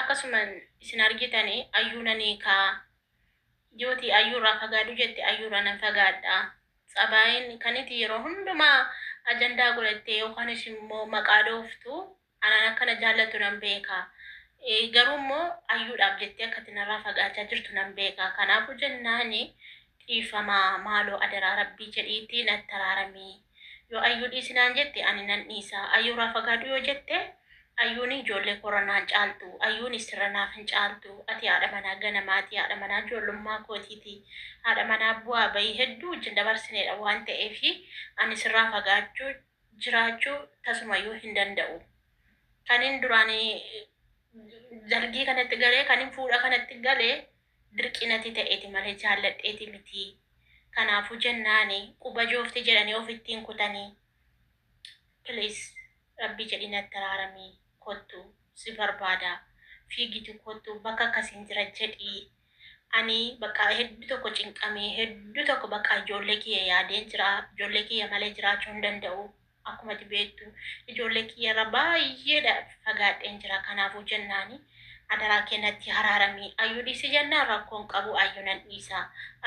Akkasuman isin argitani ayyuu nan hiikaa yooti ayyuu irraa fagaadhu jette ayyuu irraa nan fagaadha tsabaayin kaniti yeroo hundumaa ajandaa godhattee yookanis immoo maqaa dhooftu anaan akka na jaallattu nan beeka Eh, garuu immoo ayyuudhaaf jettee akkati narraa fagaachaa jirtu nan beeka kanaafuu jennaani dhiifamaa maaloo adaraa rabbii jedhiitii natti araaramii Yoo Ayyuu dhiisi naan jette ani nan dhiisa. Ayyuurraa fagaadhu yoo jette Ayyuuni ijoollee koorra naan caaltu. Ayyuuni sirra naaf hin caaltu. Ati haadha manaa ganamaati. Haadha manaa ijoollummaa kootiiti. Haadha manaa bu'aa bahii hedduu wajjin dabarsineedha waan ta'eef ani sirraa fagaachuu jiraachuu tasumayyuu hin danda'u. Kanin duraan dargii kanatti galee kanin fuudha kanatti galee Dirqi nati ta'eti male jaalladheeti miti kanaafu jennaani quba joofti jedhani ofitti hin kutani please rabbi jedhi natti araarami kottu si barbaada fiigitu kottu bakka akkasiin jira jedhi ani bakka heddu tokko cinqame heddu tokko bakka ijoollee kiyya yaadeen jira ijoollee kiyya male jiraachuu hin danda'u Akkuma ati beektu ijoollee kiyya irraa baay'eedha fagaadheen jira kanaafuu jennaani adaraa kee natti haraarami ayyuu dhiisi jennaan rakkoon qabu ayyuu nan dhiisa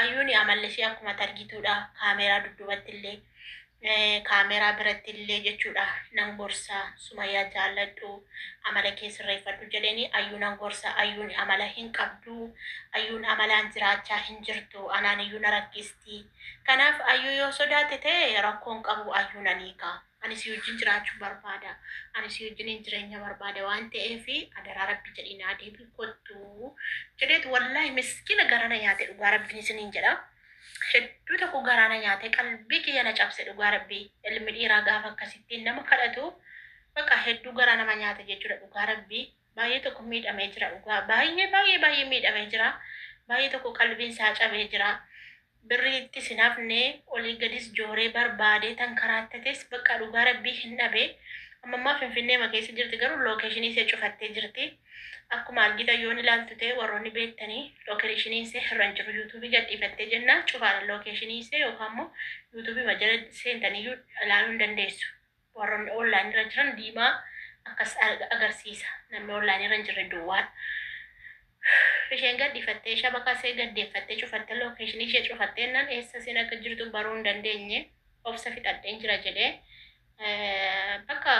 ayyuuni amallishee akkuma ati argituudha kaameeraa dudduubatti illee eh, kaameeraa biratti illee jechuudha nan gorsa sumayyaa jaalladhu amala kee sirreeffadhu jedheeni ayyuu nan gorsa ayyuun amala hin qabdu ayyuun amalaan jiraachaa hin jirtu anaan iyyuu na rakkiste qabdi. Kanaaf Ayyuu yoo sodaate ta'e rakkoo hin qabu Ayyuu nan hiika. Ani si wajjin jiraachuu barbaada. Ani si wajjiniin jireenya barbaada waan ta'eef adaraa rabbi jedhii naa deebii kottu jedheetu wallaahi miskiina garaa na nyaate dhugaa rabbiin isiniin jedha. Hedduu tokko garaa na nyaate qalbii kiyya na cabse dhugaa rabbii ilmi dhiiraa gaafa akkasittiin nama kadhatu baqa hedduu garaa nama nyaata jechuudha dhugaa rabbii Baay'ee tokko miidhamee jira dhugaa baay'ee baay'ee baay'ee miidhamee jira baay'ee tokko qalbiin isaa cabee jira birrii ittis hin hafne olii gadis jooree barbaadee tan karaattates bakka dhugaa rabbii hin dhabe amma ammaa finfinnee ma keessa jirti garuu lookeeshinii isee cufattee jirti akkuma argitan yoon ilaaltu ta'e warroonni beektanii lookeeshinii isee irra hin jiru yuutuubii gadhiifattee jennaa cufaadha lookeeshinii isee yookaan immoo yuutuubii ma jala seentanii ilaaluu hin dandeessu Warroonni online irra jiran diimaa akkas arga- agarsiisa. Namni online irra hin jirre duwwaan. Isheen gadhiifattee shabaka see gaddeeffattee cufattee location ishee cufattee nan eessa seen akka jirtu baruu hin dandeenye obsa fixadheen jira jedhee eh, bakka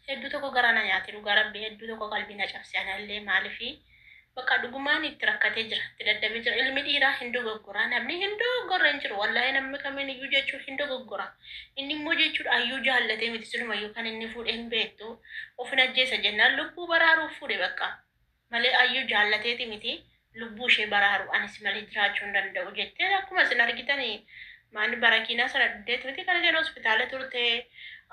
hedduu tokko garaa na nyaate dhugaa rabbi hedduu tokko qalbii na cabse anallee maalifi Baqaa dhugumaan itti rakkatee jira itti dadhabee jira ilmi dhiiraa hin dogoggoraa namni hin dogoggorre hin jiru wallahi namni kamiin iyyuu jechuun hin dogoggora inni immoo jechuudha ayyuu jaallatee miti siluma iyyuu kan inni fuudhe hin beektu ofin ajjeesa jennaan lubbuu baraaruuf fuudhe bakka malee ayyuu jaallateeti miti lubbuu ishee baraaru anis malee jiraachuu hin danda'u jettee akkuma isin argitanii maani barakiinaa sana dhuddeeti miti kan isheen hospitaala turte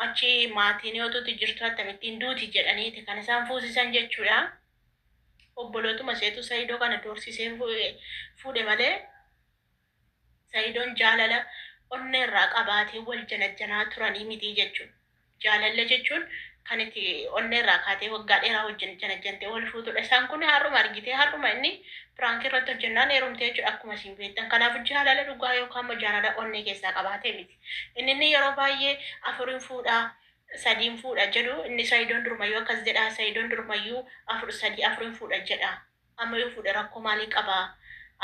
achi maatiin yoo tuti jirtu akkamittiin duuti jedhaniiti kan isaan fuusisan jechuudha. Obbolootuma isheetu Saidoo kana doorsisee fuudhe malee Saidoon jaalala onnee irraa qabaatee wal janajjanaa turanii mitii jechuun jaalalla jechuun kan itti onnee irraa kaatee waggaa dheeraa wajjin janajjantee wal fuutudha. Isaan kun har'uma argitee har'uma inni piraankii irratti hojjennaan heerumtee jechuudha akkuma isin beektan. Kanaaf jaalala dhugaa yookaan immoo jaalala onnee keessaa qabaatee miti. Inni inni yeroo baay'ee afuriin fuudhaa sadiin fuudha jedhu inni saidon durumayu akkas jedha saidon durumayu afur sadii afurin fuudha jedha amma yoo fuudhe rakkoo maalii qaba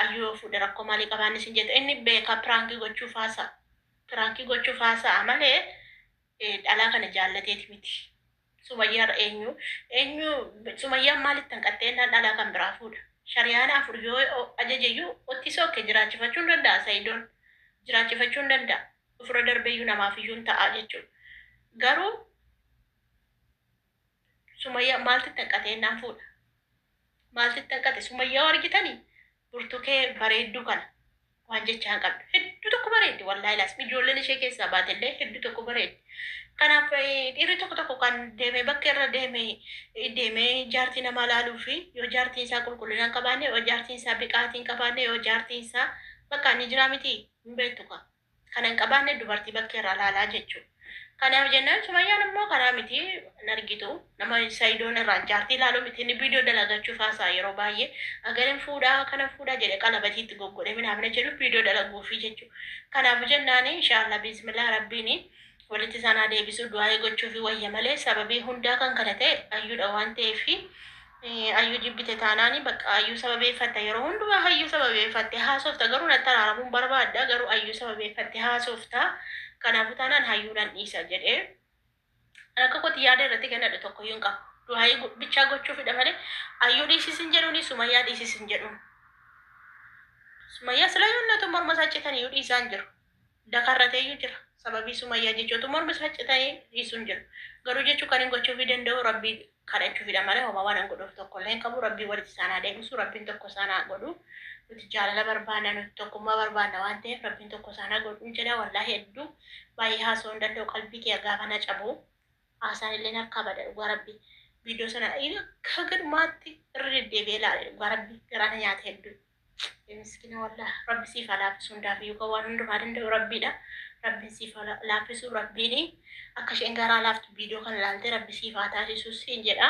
ayyu yoo fuudhe rakkoo maalii qaba inni sin jette inni beeka piraankii gochuuf haasa piraankii gochuuf haasa'a malee eh, dhalaa kana jaallateeti miti sumayyaarra eenyu eenyu sumayyaan maalitti hanqattee innaan dhalaa kan biraa fuudha shariyaana afur yoo ajajeyyuu ottisoo kee jiraachifachuun danda'a saidon jiraachifachuun danda'a Ofirra darbeyyuu namaafiyyuun ta'a jechuudha. Garuu Sumayyaa maaltu itti hanqate jennaan fuudha. Maaltu itti hanqate? Sumayyaa yoo argitanii burtukee bareedduu kana waan jechaa hin qabdu. Hedduu tokko bareeddi wallaahi laas ijoolleen ishee keessaa baate illee hedduu tokko bareeddi. Kanaaf eh, dhiirri tokko tokko kan deemee bakka irra deemee eh, deemee jaartii namaa laaluu fi yoo jaartiin isaa qulqullina hin qabaanne yoo jaartiin isaa biqaatii hin qabaanne yoo jaartiin isaa bakka inni jiraa miti hin beektu kaa. Kana hin qabaanne dubartii bakkee irraa laalaa jechuudha. Kanaaf jennaan Sumayyaan immoo kanaa miti hin argitu. Nama Sayidoon irraan jaartii ilaaluu miti inni viidiyoo dalagachuuf haasa'a yeroo baay'ee. Agarin fuudhaa kanan fuudhaa jedhe qalabatii itti goggodhee minaafina jedhu viidiyoo dalaguufi jechuudha. Kanaaf jennaan inshaallah biizmillah rabbiin walitti isaan haa deebisu du'aa'ii gochuufi wayya malee sababii hundaa kan kana ta'e ayyuudha waan ta'eef Ayyuu jibbite taanaani bakka ayyuu sababeeffatta yeroo hundumaa hayyuu sababeeffatte haasofta garuu natti araaramuun barbaadda garuu ayyuu sababeeffatte haasofta kanaafuu taanaan hayyuu nan dhiisa jedhee rakka kooti yaada irratti gannadhu tokko iyyuu hin qabu. Du'aayii go- bichaa gochuufidha malee ayyuu dhiisisin jedhuuni sumayyaa dhiisisin jedhuun. Sumayyaa sila yonnatu morma isaa citan iyyuu dhiisaan jiru. dakarrateeyyu jira sababii sumayyaa jechotu mormi isaa cita'ee dhiisun jira garuu jechuu kanin gochuufi danda'u rabbii kadhachuufidha malee homaa waanan godhuuf tokkollee hin qabu rabbii walitti isaan haa deebisu rabbiin tokko isaan haa godhu nuti jaalala barbaanna nuti tokkummaa barbaanna waan ta'eef rabbiin tokko isaan haa godhu jedha wallaahi hedduu baay'ee haasoo hin danda'u qalbii kiyya gaafa na cabu haasaan illee harkaa bada dhugaa rabbii viidiyoo sana haga dhumaatti irra deddeebi'ee ilaale dhugaa rabbii garaana nyaate hedduu Rabbi miskina wallah rabbi siif haa laaffisu hundaafiyyuu kan waan hundumaa danda'u rabbiidha rabbiin siif haa laaffisu rabbiin akka isheen garaa laaftu viidiyoo kana ilaaltee rabbi siif haa taasisu siin jedha.